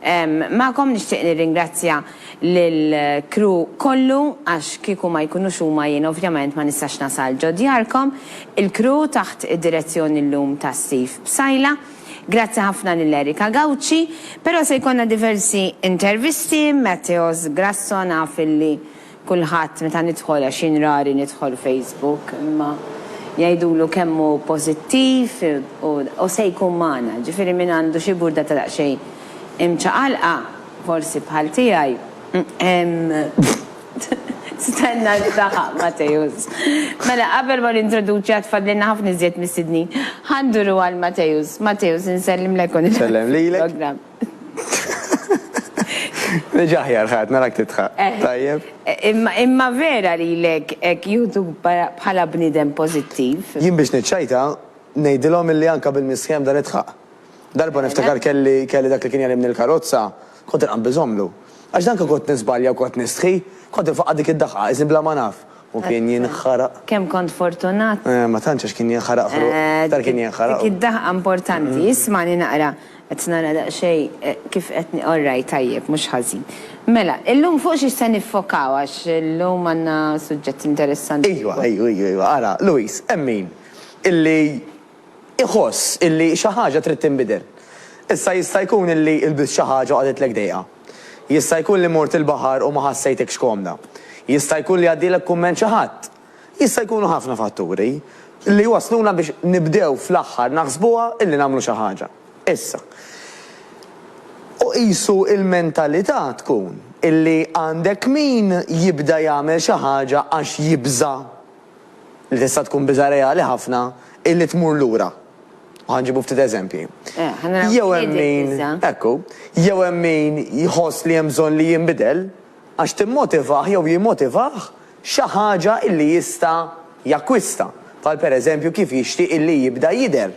Magħkom nixtieq nirringrazzja lill-crew kollu għax kieku ma jkunux huma jien ovvjament ma nistax nasal ġo djarkom. Il-crew taħt id-direzzjoni llum ta' Steve Psaila. Grazzi ħafna lil Erika Gauci. Però se jkollna diversi intervisti, Matteos Grasso naf illi Kulħadd meta nidħol, għax jien rari nidħol Facebook, imma jgħidulu kemm hu pożittiv u se jkun magħna. Ġifieri min għandu xi burda ta' daqsxejn imċaqalqa, forsi bħal tiegħi, stenna li taħaq Mateusz. Mela qabel ma nintroduċi għad fadlilna ħafna iżjed mistednin. Ħa nduru għal Mateusz. Mateusz, insellimlek u nilqgħek fil-programm. Reġa' aħjar ħadd narak tidħaq. Tajjeb. Imma vera lilek hekk jieħdu bħala bniedem pożittiv? Jien biex niċċajta ngħidilhom illi anke bil-misħieħ bda nidħaq. Darba niftakar kelli kelli dak li kien jegħlimni l-karozza, kont inqabbis għomlu. Għax danka kont niżbalja u kont nistħi, kont infaqqa' dik id-daħqa, isni bla ma naf. U kien jinħaraq. Kemm kont fortunat. Eh, ma tantx għax kien jinħaraq ħruq. Iktar kien jinħaraq. Dik id-daħqa importanti. Ismagħni naqra. Qed nara daqsxejn kif qed ni. Orrajt, tajjeb, mhux ħażin. Mela, illum fuq xiex se niffokaw għax illum għandna suġġett interessanti. Ejwa, ejwa, ejwa, ejwa. Ara, Louise, hemm min illi jħoss illi xi ħaġa trid tinbidel. Issa jista' jkun illi lbist xi ħaġa u qagħditlek dejqa. Jista' jkun li mort il-baħar u ma ħassejtekx komda. Jista' jkun li għaddielek kumment xi ħadd. Jista' jkunu ħafna fatturi li jwassluna biex nibdew fl-aħħar naħsbuha illi nagħmlu xi ħaġa issa. U qisu l-mentalità tkun illi għandek min jibda jagħmel xi ħaġa għax jibża' li tista' tkun biża' reali ħafna hi li tmur lura. U ħa nġibu ftit eżempji. Jew hemm min, ekku, jew hemm min jħoss li hemm bżonn li jinbidel għax timmotivah jew jimmotivah xi ħaġa li jista' jakkwista, bħal pereżempju kif jixtieq illi jibda jidher.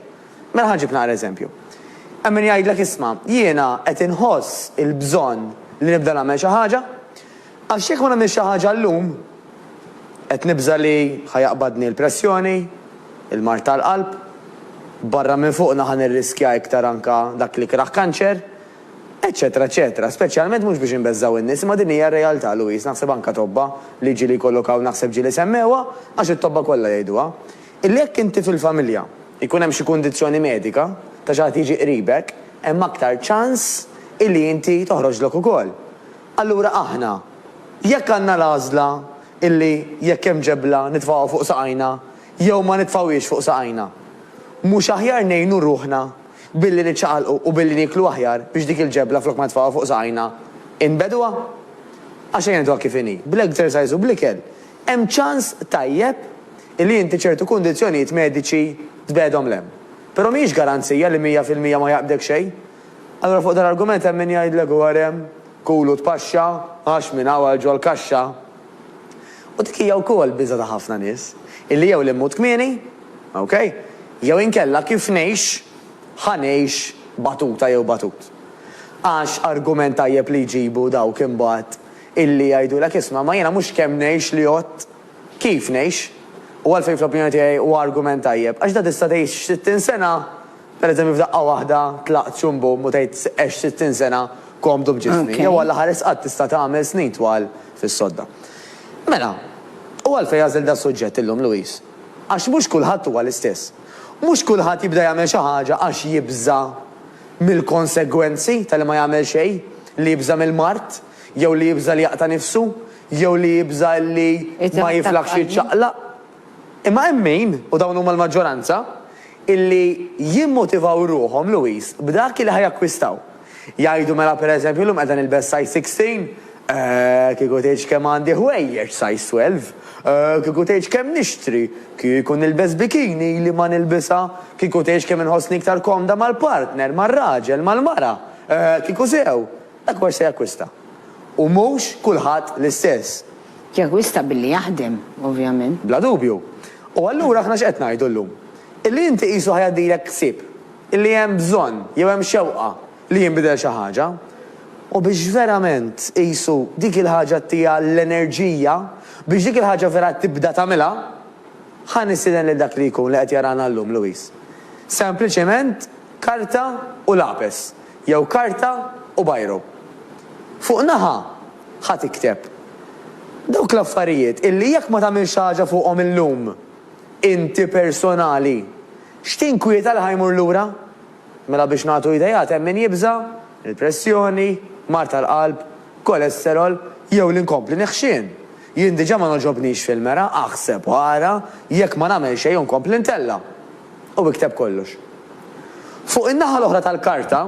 Mela ħa nġib naqra eżempju. Hemm min jgħidlek isma', jiena qed inħoss il-bżonn li nibda nagħmel xi ħaġa, Għax jekk ma nagħmilx xi ħaġa llum, qed nibża' li ħa jaqbadni l-pressjoni, il-mard tal-qalb, barra minn fuqna ħa nirriskja iktar anke dak l-ikrah kanċer, eċċetera eċċetera. Speċjalment mhux biex inbeżżgħu n-nies, imma din hija r-realtà, Louise, naħseb anke tobba li ġieli jkollok hawn naħseb ġieli semmewha, għax it-tobba kollha jgħiduha, illi jekk inti fil-familja jkun hemm xi kundizzjoni medika ta' xi ħadd jiġi qribek, hemm aktar ċans illi inti toħroġlok ukoll. Allura aħna, jekk għandna l-għażla illi jekk hemm ġebla nitfgħuha fuq saqajna jew ma nitfgħuhiex fuq saqajna, mhux aħjar ngħinu ruħna billi niċċaqalqu u billi nieklu aħjar biex dik il-ġebla flok ma nitfgħuha fuq saqajna inbegħduha? Għax ejja ngħiduha kif inhi, bl-exercise u bl-ikel hemm ċans tajjeb illi inti ċertu kundizzjonijiet mediċi tbegħedhom 'l hemm. Però mhijiex garanzija li mija fil-mija ma jaqbdek xejn. Allura fuq dan l-argument hemm min jgħidlek hu għarem, kulu tpaxxa, għax minn hawn għal ġol kaxxa. U dik hija wkoll biża' ta' ħafna nies, illi jew li mmut kmieni, ok, jew inkella kif ngħix, ħa ngħix batuta jew batut. Għax argument tajjeb li jġibu dawk imbagħad illi jgħidulek isma' ma jiena mhux kemm ngħix li għodt, kif ngħix. U għalfejn fl-opinjoni tiegħi huwa argument tajjeb, għax da tista' tgħix 60 sena, Per eżempju f'daqqa waħda tlaqt xum bum u tgħid għext sittin sena komdu b'ġismi, jew Alla ħares qatt tista' tagħmel snin twal fis-sodda. Mela, u għalfejn għażilt das-suġġett illum, Louise? Għax mhux kulħadd huwa l-istess. Mhux kulħadd jibda jagħmel xi ħaġa għax jibża' mill-konsegwenzi ta' li ma jagħmel xejn, li jibża' mill-mard, jew li jibża' li jaqta' nifsu, jew li jibża' li ma jiflaħx jiċċaqlaq. Imma hemm min, u dawn huma l-maġġoranza, illi jimmotivaw ruħhom, Louis, b'dak illi ħa jakkwistaw. Jgħidu mela per eżempju llum qiegħda nilbes size 16, eh, kieku tgħidx kemm għandi ħwejjeġ size 12, eh, kieku tgħidx kemm nixtri, kieku nilbes bikini ili ma nilbisha, kieku tgħidx kemm inħossni iktar komda mal-partner, mar-raġel, mal-mara, eh, kieku sew. Dak mhux se jakkwista. U mhux kulħadd l-istess. Jakkwista billi jaħdem, ovvjament. Bla dubju. U allura aħna x'qed ngħidu llum? Illi inti qisu ħa jgħaddilek ħsieb. Illi hemm bżonn, jew hemm xewqa, li jinbidel xi ħaġa. U biex verament, qisu, dik il-ħaġa ttiha l-enerġija, biex dik il-ħaġa vera tibda tagħmilha, ħa nistieden lil dak li jkun li qed jarana llum, Louise. Sempliċement karta u lapes. jew karta u biro. Fuq naħa, ħa tikteb. Dawk l-affarijiet illi jekk ma tagħmilx xi ħaġa fuqhom illum, inti personali, x'tinkwieta li ħa jmur lura? Mela biex nagħtu ideat hemm min jibża', il-pressjoni, mard tal-qalb, kolesterol, jew li nkompli neħxien. Jien diġà ma nogħġobnix fil-mera, aħseb u ara jekk ma nagħmel xejn u nkompli ntella'. u ikteb kollox. Fuq in-naħa l-oħra tal-karta,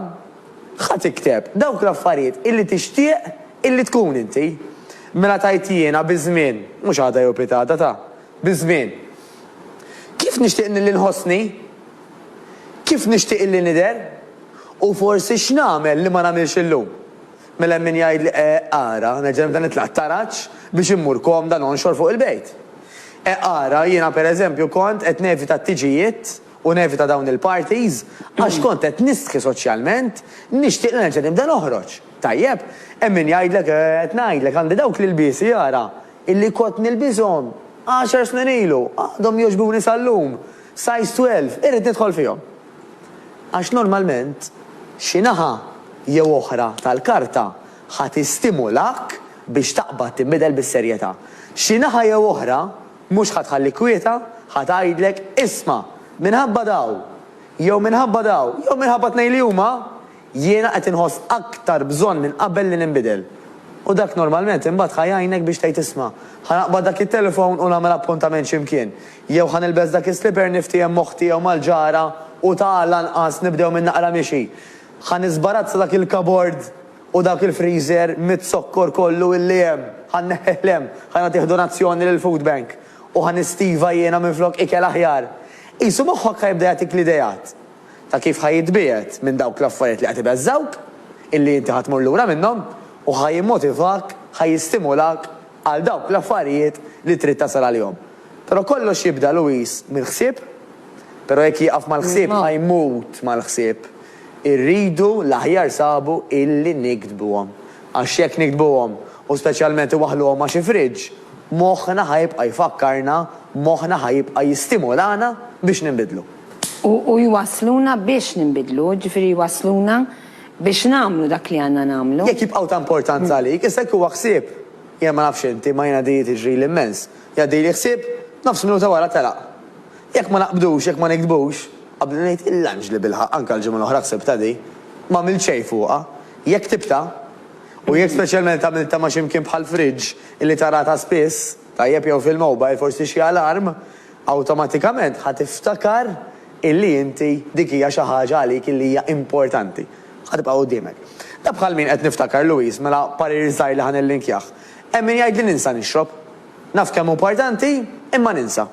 ħa tikteb dawk l-affarijiet illi tixtieq illi tkun inti. Mela tgħid jiena biż-żmien, mhux għada jew pitgħada ta', biż-żmien. Kif nixtieq nilli nħossni? Kif nixtieq illi nidher? U forsi x'nagħmel li ma nagħmilx illum? Mela hemm min jgħidli, E, ara, nerġa' nibda nitlaq t-taraġ biex immur komda nonxor fuq il-bejt. E, ara, jiena per eżempju kont qed nevita t-tiġijiet u nevita dawn il-parties għax kont qed nistħi soċjalment, nixtieq li nerġa' nibda noħroġ. Tajjeb, hemm min jgħidlek, E, qed ngħidlek, għandi dawk l-ilbiesi, ara, illi kont nilbishom għaxar snin ilu, għadhom jogħġbuni sal-lum, size twelve, irrid nidħol fihom. għax normalment xi naħa jew oħra tal-karta ħa tistimulak biex taqbad tinbidel bis-serjetà. Xi naħa jew oħra mhux ħa tħallik kwieta, ħa tgħidlek, isma', minħabba daw, jew minħabba daw, jew minħabba t-tnejn li huma, Jiena qed inħoss aktar bżonn minn qabel li ninbidel. U dak normalment imbagħad ħa jgħinek biex tgħid isma', ħa naqbad dak it-telefon u nagħmel appuntament xi mkien, jew ħa nilbes dak is-slipper niftiehem m'oħti jew mal-ġara u ta' lanqas nibdew minn naqra mixi. Ħa niżbarazza dak il-kabord u dak il-friżer miz-zokkor kollu illi hemm, ħa nneħħih 'l hemm, ħa nagħtih donazzjoni lill-food bank u ħa nistiva jiena minflok ikel aħjar. Qisu moħħok ħa jibda jagħtik l-ideat. ta' kif ħa jitbiegħed minn dawk l-affarijiet li qed ibeżżgħuk, illi inti ħa tmur lura minnhom, u ħa jimmotivak, ħa jistimulak għal dawk l-affarijiet li trid tasal għalihom. Però kollox jibda, Louis, mill-ħsieb. Però jekk jieqaf mal-ħsieb ħa jmut mal-ħsieb. Irridu l-aħjar sabu illi niktbuhom. Għax jekk niktbuhom, u speċjalment iwaħħluhom ma' xi fridge, moħħna ħa jibqa' jfakkarna, moħħna ħa jibqa' jistimulana biex ninbidlu. U jwassluna biex ninbidlu, jiġifieri jwassluna biex nagħmlu dak li għandna nagħmlu. Jekk jibqgħu ta' importanza għalik, issa jekk huwa ħsieb, jien ma nafx inti, imma jiena di tiġrili immens, jgħaddili ħsieb, nofs minuta wara telaq. Jekk ma naqbdux, jekk ma niktbux, qabli ngħid il-lunch li bilħaqq anke l-ġimgħa l-oħra ħsibtha di, m'għamilt xejn fuqha. Jekk ktibtha, u jekk speċjalment għamiltha ma' xi mkien bħall-fridge illi taraha ta' spiss, tajjeb jew fil-mobile, forsi xi alarm, Awtomatikament ħa tiftakar illi inti dik hija xi ħaġa għalik illi hija importanti. Ħa tibqa' quddiemek. Da bħal min qed niftakar Louise, mela parir żgħir li ħa nillinkjah. Hemm min jgħid li ninsa nixrob. Naf kemm hu importanti, imma ninsa.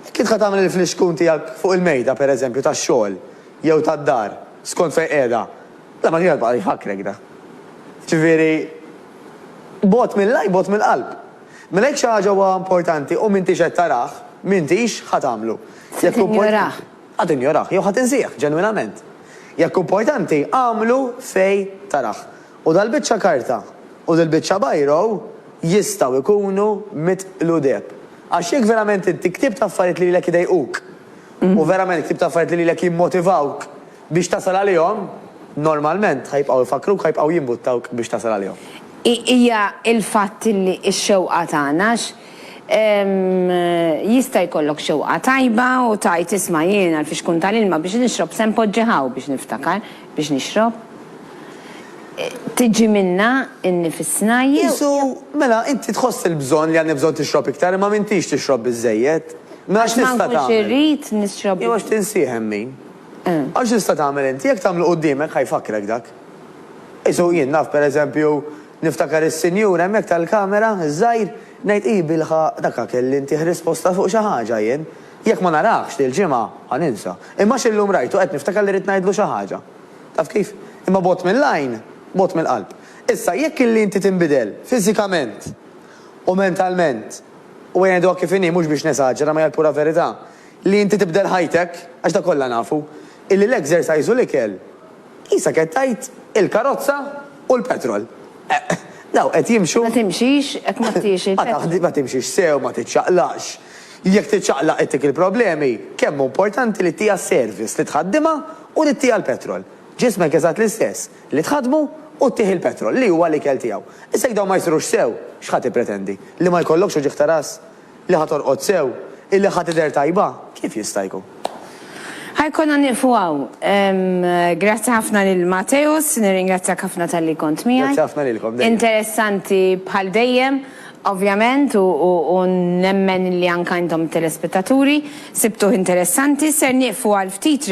Jekk int ħa tagħmel il-flixkun tiegħek fuq il-mejda, per eżempju, tax-xogħol jew tad-dar, skont fejn qiegħda, da ma kienx ħa jibqa' jfakkrek da. Jiġifieri, bogħod mill-għajn, bogħod mill-qalb. Mela jekk xi ħaġa huwa importanti u m'intix qed tarah, m'intix ħa tagħmlu. Se tinjorah. Ħa tinjorah jew ħa tinsieh ġenwinament. Jekk hu importanti, agħmlu fejn tarah. U dal-biċċa karta u dil-biċċa biro jistgħu jkunu mitqlu deheb. Għax jekk verament inti ktibt affarijiet li lilek idejquk u verament ktibt affarijiet li lilek jimmotivawk Biex tasal għalihom, normalment ħa jibqgħu jfakkruk, ħa jibqgħu jimbuttawk biex tasal għalihom. Hija l-fatt li x-xewqa tagħna, għax jista' jkollok xewqa tajba u tgħid isma' jien għall-fixkun tal-ilma biex nixrob se npoġġi hawn biex niftakar biex nixrob. Tiġi minnha nnifisna jew. Qisu, mela inti tħoss il-bżonn li għandek bżonn tixrob iktar imma m'intix tixrob biżżejjed. Mela x'tista' tagħmel? Għax ma nkunx irrid nixrob. Jew għax tinsih hemm min. Għax tista' tagħmel inti, jekk tagħmlu quddiemek ħa jfakkrek dak. Qisu jien naf per eżempju niftakar is-sinjur hemmhekk tal-kamera, iż-żgħir, ngħid hi bilħaqq daka kelli ntieh risposta fuq xi ħaġa jien. Jekk ma narahx dil-ġimgħa ħa ninsa. Imma għax illum rajtu qed niftakar li ridt ngħidlu xi ħaġa. Taf kif? Imma bogħod mill-għajn, bogħod mill-qalb. Issa jekk illi inti tinbidel fiżikament u mentalment, u għedha kif inhi mhux biex nesaġera ma hija l-pura verità, Li inti tibdel ħajtek, għax dak kollha nafu, illi l-exercise u l-ikel, qisha qed tgħid il-karozza u l-petrol. Eqq! Dawn qed jimxu. Ma timxix jekk ma tiex il-petrol. Ma timxix sew, ma tiċċaqlaqx. Jekk tiċċaqlaq ittik il-problemi, kemm hu importanti li ttiha service, li tħaddimha u li ttiha l-petrol. Ġismek eżatt l-istess, li tħaddmu u ttih il-petrol, li huwa l-ikel tiegħu. Issa jekk dawn ma jsirux sew, x'ħa tippretendi? Li ma jkollokx uġigħ ta' ras? Li ħa torqod sew, illi ħa tidher tajba, kif jista' jkun? Ħa jkollna nieqfu hawn. Grazzi ħafna lil Mateusz, nirringrazzjak ħafna talli kont miegħi. Grazzi ħafna lilkom dejjem. Interessanti bħal dejjem, ovvjament, u nemmen li anke intom telespettaturi sibtuh interessanti. Ser nieqfu għal ftit.